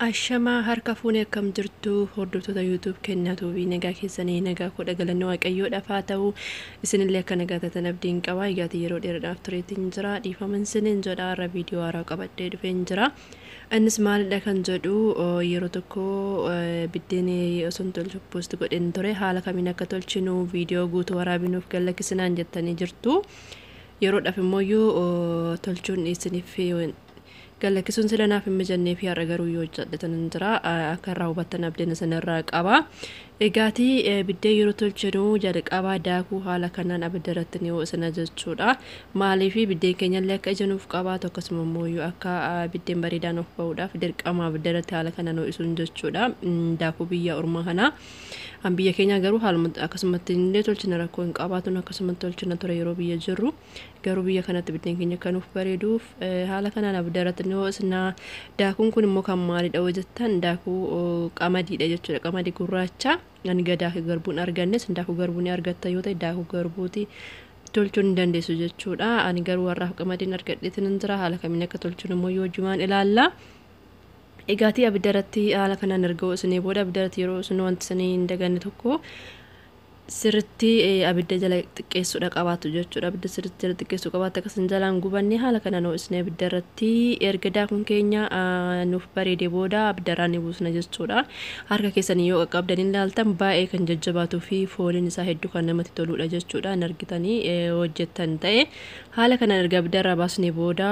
Ashamaa harka fuune akkam jirtu hordoftoota YouTube kennaa tuubii nagaa keessanii nagaa koo dhagalanni waaqayyoo dhafaa ta'u isinillee akka nagaa taatan abdiin qabaa egaati yeroo dheeraadhaaf tureetiin jira dhiifaman sinin jedha har'a viidiyoo haaraa qabadhee dhufeen jira innis maalidha kan jedhu yeroo tokko biddeen osoon tolchu poost godheen ture haala kamiin akka tolchinu viidiyoo guutuu waraabinuuf gallakkisinaan jettanii jirtu. yeroodhaaf immoo tolchuun isiniif Gad lakkisuun sila naaf hin mijanneefi har'a garuu yoo hojjedhetanan jira akka irraa hubattan abdeen isin irraa qaba. Egaati biddeen yeroo tolchinu jalqaba daakuu haala kanaan abidda irratti ni ho'isna jechuudha. Maaliif biddeen keenyallee akka ija nuuf qabaatu akkasuma immoo yoo akka biddeen bareedaa nuuf ba'uudhaaf dirqama abidda irratti haala kanaan ho'isuun jechuudha. Daakuu biyya ormaa kana. An biyya keenyaa garuu haaluma akkasumatti illee tolchina rakkoo hin qabaatun akkasumatti tolchina ture yeroo biyya jirru. Garuu biyya kanatti biddeen keenya akka nuuf bareeduuf haala kanaan abidda irratti ni hoosna. Daakuun kun immoo kan maalidha yoo jettan daakuu qamadiidha jechuudha. Qamadii gurraacha ani gadaake garbuun argannes daakuu garbuu ni argatta yoo ta'e daakuu garbuuti tolchuu ni dandeessu jechuudha. Ani garuu har'aaf qamadiin argadheetiin hin jira haala kamiin akka tolchuun immoo yoo jimaan ilaalla. Egaatii abidda irratti haala kanaan erga hoosnee booda abidda irratti yeroo hoosnu wanti isin hin daganne tokko sirritti abidda jala xiqqeessuudha qabaatu jechuudha. Abidda sirritti jala xiqqeessuu qabaatu akka isin jalaan gubanne haala kanaan ho'isnee abidda irratti erga daakuun keenya nuuf bareede booda abidda irraa ni buusna jechuudha. Harka keessanii yoo qaqqabdan hin laaltan baay'ee kan jajjabaatuu fi fooliin isaa hedduu kan namatti toluudha jechuudha. Hin argitanii hojjettan ta'e haala kanaan erga abidda irraa baasnee booda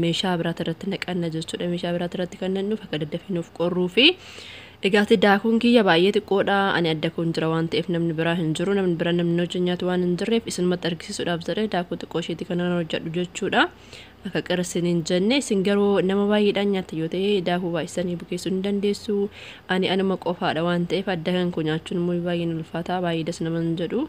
meeshaa biraati irratti naqanna jechuudha. Meeshaa biraati irratti kan naqnuuf akka daddafinuuf qorruu fi Egaa ati daakuun kiyya baay'ee xiqqoodha, ani adda koon jira waan ta'eef namni biraa hin jiru, namni biraa namni na wajjin nyaatu waan hin jirreef isinumatti argisiisuudhaaf jedhee daakuu xiqqoo isheetii kana nan hojjedhu jechuudha. Akka qir isin hin jenne isin garuu nama baay'eedhaan nyaattan yoo ta'e daakuu baay'istanii bukeessuu ni dandeessu. Ani anuma qofaadha waan ta'eef adda kan koo nyaachuun immoo baay'een ulfaata baay'ee das nama hin jedhu.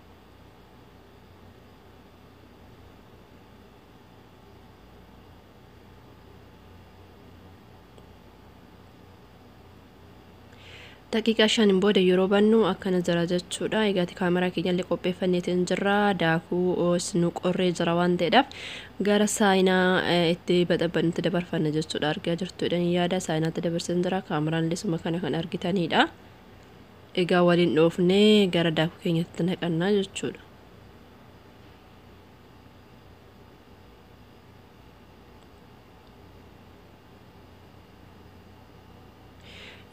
daqiiqaa shaniin booda yeroo bannu akkana jira jechuudha. Egaa kaameraa keenyallee qopheeffanneeti hin jirra. Daakuu os nu qorree jira waan ta'eedhaaf gara saayinaa itti baxabbannutti dabarfanna jechuudha. Argaa jirtuudhaan yaada saayinaatti dabarsan jira. Kaameraan lisuma kana kan argitaniidha. Egaa waliin dhoofnee gara daakuu keenyatti naqannaa jechuudha.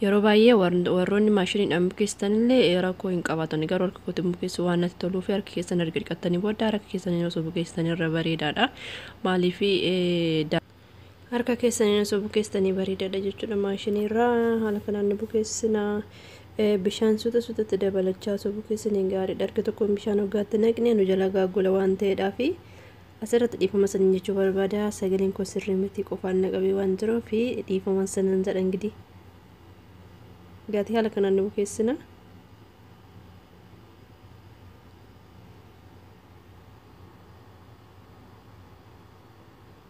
Yeroo baay'ee warroonni maashiniidhaan bukeessitan illee rakkoo hin qabaatan. Garuu harka kootiin bukeessu waan natti toluu fi harka keessan erga dhiqattanii booda harka keessaniin osoo bukeessitan irra bareedaadha. Maaliif Harka keessaniin osoo bukeessitanii bareedaadha jechuudha maashiniirraa haala kanaan ni bukeessina. Bishaan suuta suutatti dabalachaa osoo bukeessine gaariidha. Harki tokkoon bishaan hoggaatti naqne nu jalaa gaaggola waan ta'eedhaaf asirratti dhiifama sanin jechuu barbaada. Sagaleen koo sirrii miti qofaan na qabee waan jiruuf dhiifama sanan jedha ingidihi. Gaatii haala kanaan ni bukeessina.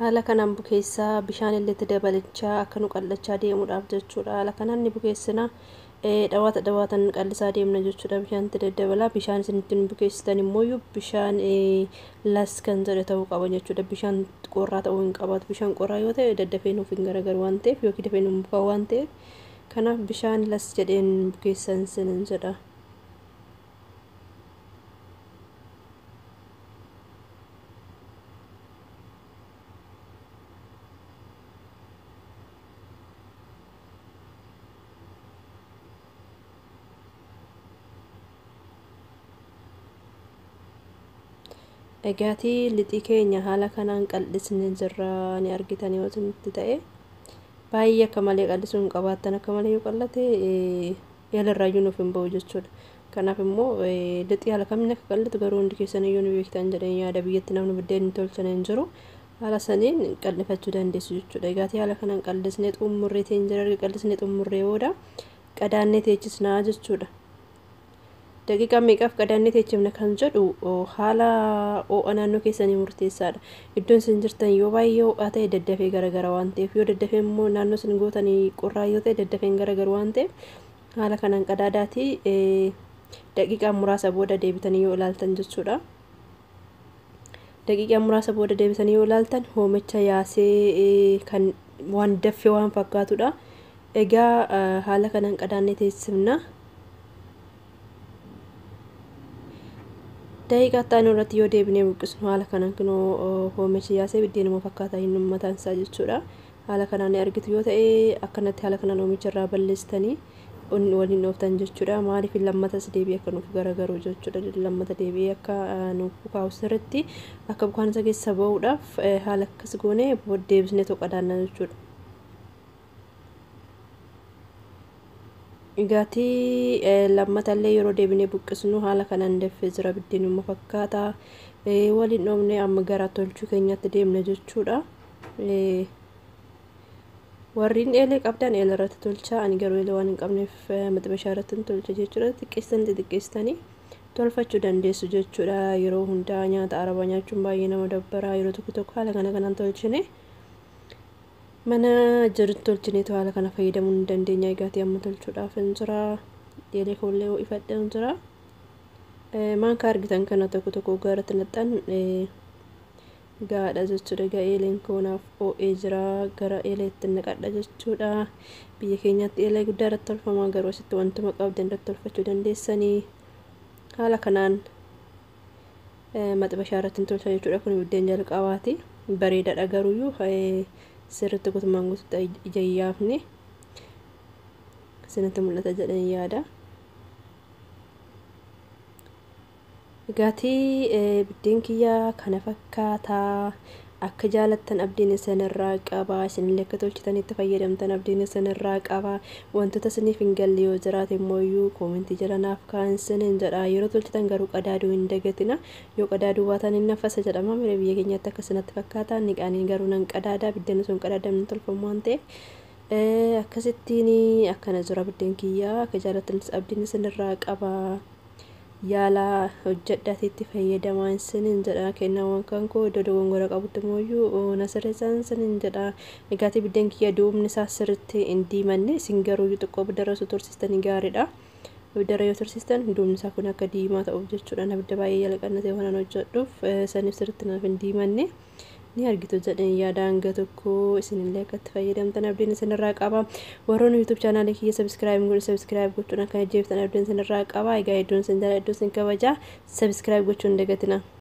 Haala kanaan bukeessaa bishaan illee itti dabalichaa akka nu qal'achaa deemuudhaaf jechuudha. Haala kanaan ni bukeessina. Dhawaata dhawaatan qal'isaa deemna jechuudha bishaan itti daddabalaa. Bishaan isin ittiin bukeessitan immoo bishaan las kan jedhe ta'uu qaba jechuudha. Bishaan qorraa ta'uu hin qabaatu. Bishaan qorraa yoo ta'e daddafee nuuf hin garagaru waan ta'eef yookiin dafee nuuf bukaa waan ta'eef kanaaf bishaan las jedheen bukeessan sin jedha. Egaatii lixii keenya haala kanaan qal'isne jirra ni argitan yoo isinitti ta'e baay'ee akka malee qal'isuu hin qabaattan akka malee yoo qal'ate yaala irraayyuu nuuf hin ba'u jechuudha. Kanaaf immoo lixi haala kamiin akka qal'atu garuu hundi keessan iyyuu ni beektan jedheen yaada biyyatti namni buddeen hin tolchine hin jiru. Haala saniin qal'ifachuu dandeessu jechuudha. Egaati haala kanaan qal'isnee xumurree teenjira erga qal'isnee xumurree booda qadaannee teechisnaa jechuudha. Daqiiqaa meeqaaf qadaannee teechifna kan jedhu haala oo'a naannoo keessanii murteessaadha. Iddoon isin jirtan yoo baay'ee oo'aa ta'e daddafee garagara waan ta'eef yoo daddafee immoo naannoo isin gootanii qorraa yoo ta'e daddafeen garagaru waan ta'eef haala kanaan qadaadaatii daqiiqaa muraasa booda deebitanii yoo ilaaltan jechuudha. daqiiqaa muraasa booda deebisanii yoo ilaaltan hoomicha yaasee kan waan daffe waan fakkaatudha. Egaa haala kanaan qadaannee teessifna. Daqiiqaa itti aanu irratti yoo deebinee buqqisnu haala kanaan kunoo hoomichi yaasee biddeenuma fakkaataa hin uummataan isaa jechuudha. Haala kanaan ni argitu yoo ta'e akkanatti haala kanaan oomicha irraa balleessitanii waliin dhooftan jechuudha. Maaliif lammatas deebi'ee akka nuuf garagaru jechuudha. Lammata deebi'ee akka nuuf bukaa'u sirriitti akka bukaan isa keessa ba'uudhaaf haala akkas goone deebisnee toqadaanna jechuudha. Gaatii lammata illee yeroo deebinee buqqisnu haala kanaan deffee jira biddeenuma fakkaata. Waliin dhoofnee amma gara tolchuu keenyatti deemna jechuudha. warriin eelee qabdan eela irratti tolchaa ani garuu eela waan hin qabneef maxibashaa irratti hin tolcha jechuudha xiqqeessan xixiqqeessitanii tolfachuu dandeessu jechuudha yeroo hundaa nyaata arabaa nyaachuun baay'ee nama dabbaraa yeroo tokko tokko haala kana kanaan tolchine mana jirutti tolchineetu haala kana fayyadamuu ni dandeenya egaati amma tolchuudhaaf hin jira eelee koollee ho'ifadhee hin jira maankaa argitan kana tokko tokko oggaa irratti naqxan Ga'aadha jechuudha. Egaa eeleen koo naaf oo'ee jira. Gara eeleetti naqadha jechuudha. Biyya keenyatti eelee guddaa irratti tolfama. Garuu asitti wantuma qabdan irratti tolfachuu dandeessanii. Haala kanaan maxibashaa irratti hin tolcha jechuudha. Kun biddeen jalqabaati. Bareedaadha garuuyyuu sirriitti guutummaan guututti ija hin yaafne. Isinitti mul'ata jedheen yaada. Gatii biddeen kiyya kana fakkaata. Akka jaalattan abdiin isin irraa qaba. Isinillee akka tolchitanii itti fayyadamtan abdiin isin irraa qaba. Wantoota isiniif hin galle yoo jiraate immoo iyyuu koomentii jala naaf kaa'aa isiniin jedha. Yeroo tolchitan garuu qadaaduu hin dagatina. Yoo qadaaduu baatan hin nafasa jedhama. Mire biyya keenyatti akkas natti fakkaata. Niqaanii garuu nan qadaada. Biddeen osoo hin qadaadamne tolfamu waan ta'eef. Akkasittiin akkana jira biddeen kiyya. Akka jaalattan abdiin isin irraa qaba. Yaalaa hojjadhaatii itti fayyadamaa isiniin jedha kennawwan kan koo iddoo dogongora qabutti mooyyuu na sirreessaan isiniin jedha egaatii biddeen kiyya duubni isaa sirritti hin diimanne isin garuu xiqqoo biddara osoo tursiistanii gaariidha biddara yoo tursiistan duubni isaa kun akka diimaa ta'uuf jechuudhaan abidda baay'ee jala qannatee waan hojjedhuuf saniif sirritti naaf hin diimanne ni argitu jedheen yaada hanga tokko isinillee akka itti fayyadamtan abdiin isinirraa qaba warroonni yuutuub chaanaalii kiyya sabiskiraayib godhu sabiskiraayib gochuun akka ajjeeftan abdiin isinirraa qaba egaa hedduun isin jala hedduun isin kabaja sabiskiraayib gochuun dagatina.